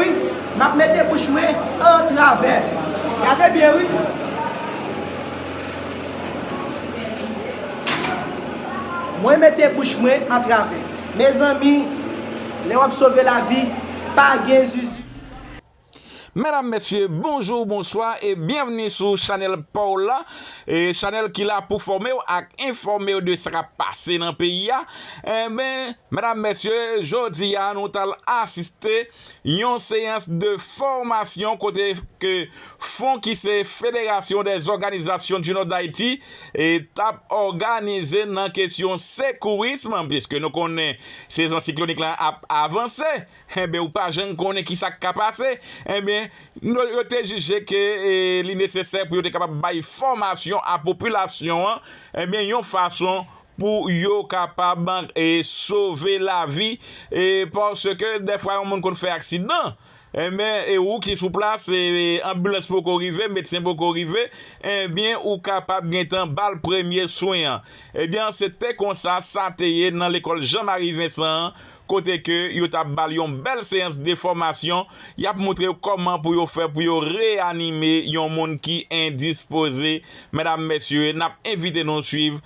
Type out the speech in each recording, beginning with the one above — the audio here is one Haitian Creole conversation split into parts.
Wi map mete bouch mwen an travè gade byen wi. Mwen mete bouch mwen an travè. Mezanmi lè wap sove lavi pa gen zuzu. Medam mesye bonjour bonswa e byenvni sou chanel paw la e chanel ki la pou fòmew ak enfòmew de sa kap pase nan peyi a. Enben, medam mesye, jodi a nou tal asiste yon seyans de fòmasyon kote ke fon ki se Federasyon dè zòganizasyon di nò Dayiti tap òganize nan kesyon sekourism, piske nou konnen sezon siklonik lan ap avanse, enben ou pa jann konnen kisak ka pase, enben yo te jije ke li nesesè pou yo te kapab bay fòmasyon a popilasyon an, enben yon fason pou yo kapab sove lavi paske dèfwa yon moun konn fè aksidan enben ou ki sou plas anbilans poko rive medsen poko rive enben ou kapab gentan bal premye swen an ebyen se te konsa sa te ye nan lekòl Jean Marie Vincent an kote ke yo tap bal yon bèl seyans de fòmasyon yap moutre yo kòman pou yo fè pou yo reyanime yon moun ki endispoze medam mesye nap envite nou swiv.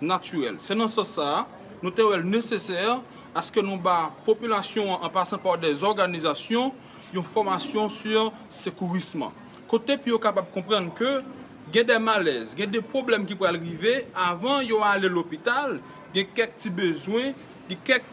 natirèl. Se nan sans sa a, nou te wè l nesesè aske nou ba popilasyon an, an pasan pa dè zòganizasyon, yon fòmasyon sou sekourism, kote pou yo kapab konprann ke gen dè malèz, gen dè pwoblèm ki pral rive, avan yo ale lopital, gen kèk ti bezwen, gen kèk.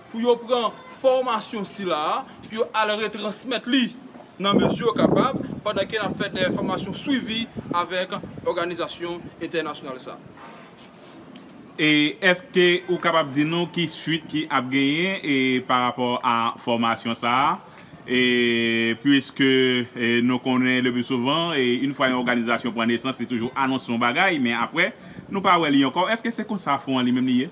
pou yo pran fòmasyon sila a, pou yo al retransmèt li nan mezi yo kapab, pandan ke n ap fè de fòmasyon swivi avèk òganizasyon entènasyonal sa a. Èske ou kapab di nou ki suit ki ap genyen pa rapò a fòmasyon sa a? Puiske nou konnen le pi souvan, in fwa yon òganizasyon pran nesans, li toujou anonse yon bagay, men apre, nou pa wè li ankò. Èske se konsa fon an li menm li ye?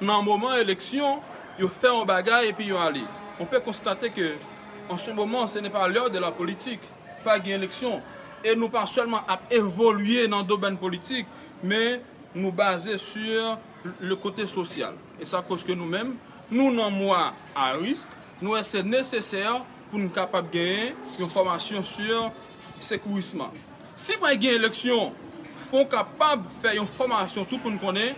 Nan moman eleksyon, yo fè yon bagay epi yo ale. On pe konstate ke an se moman se ne pa l'heure de la politique, pa gen eleksyon. E nou pa sèlman ap evolye nan domenn politik, men nou baze sur le kote sosyal. E sa koz ke nou menm, nou nan mwa a risk, nou wè se nesesè pou nou kapab genyen yon fòmasyon sur sekourisman. Si pa gen eleksyon, fon kapab fè yon fòmasyon tout moun konnen,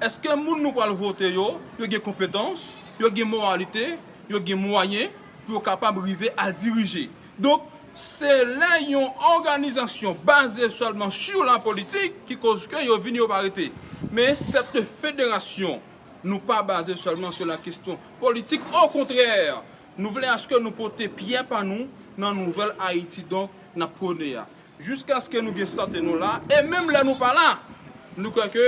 Eske moun nou pral vote yo, yo gen konpetans, yo gen moralite, yo gen mwayen pou yo kapab rive al dirije? Donk, se lè yon òganizasyon baze sèlman sou la politik ki koz ke yo vini yo pa rete. Men sète federasyon nou pa baze sèlman sou la kestyon politik, okontrè, nou vle aske nou pote pyè pa nou nan nouvèl Ayiti donk n ap pwone a. Jiskaske nou gen sante nou la, e menm lè nou pa la, nou kwè ke,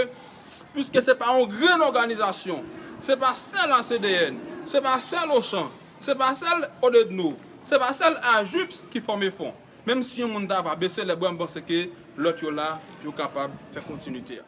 piske se pa yon grenn òganizasyon, se pa sèl ACDN, se pa sèl Ochan, se pa sèl Odedno, se pa sèl AJUPS ki fòme fon. Menm si yon moun ta va bese lè bwa m panse ke lòt yo la, yo kapab fè kontinite a.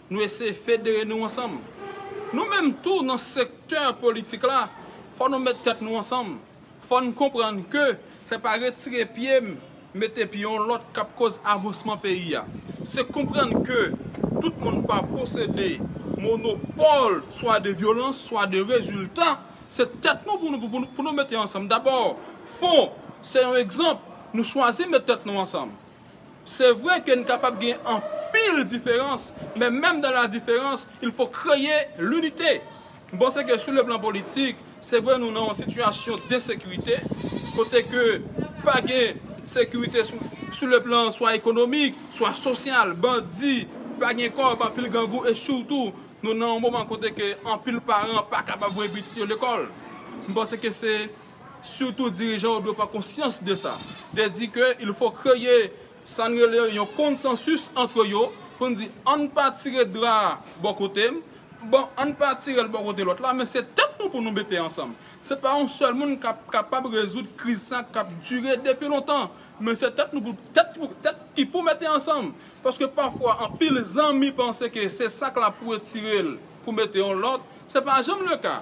Nou eseye federe nou ansanm. Nou menm tou nan sektè politik la, fò nou met tèt nou ansanm. Fò n konprann ke se pa retire pye m mete pye yon lòt k ap koz avansman peyi a. Se konprann ke tout moun pa posede monopòl swa de vyolans, swa de rezilta. Se tèt nou pou nou mete ansanm. Dabò, fon se yon egzanp. Nou chwazi met tèt nou ansanm. Se vre ke n kapab gen anpil diferans, men menm dan la diferans, il fo kreye linite. M panse ke sou le plan politik, se vre nou nan yon sitiyasyon densekirite, kote ke pa gen sekirite sou le plan swa ekonomik, swa sosyal, bandi, pa gen kòb, anpil gangou, e sitou nou nan yon moman kote ke anpil paran pa kapab voye pitit yo lekòl. M panse ke se. surtout dirijan yo dwe pran konsyans de sa. Te di ke il fo kreye sa n rele yon konsansis antre yo pou n di an n pa tire dra a bò kote m, bon an n pa tire l bò kote lòt la men se tèt nou pou nou mete ansanm. Se pa yon sèl moun k ap kapab rezoud kriz sa k ap dire depi lontan men se tèt nou pou tèt ki pou mete ansanm paske pafwa anpil zanmi panse ke se sak la pou retire l pou mete yon lòt se pa janm le ka.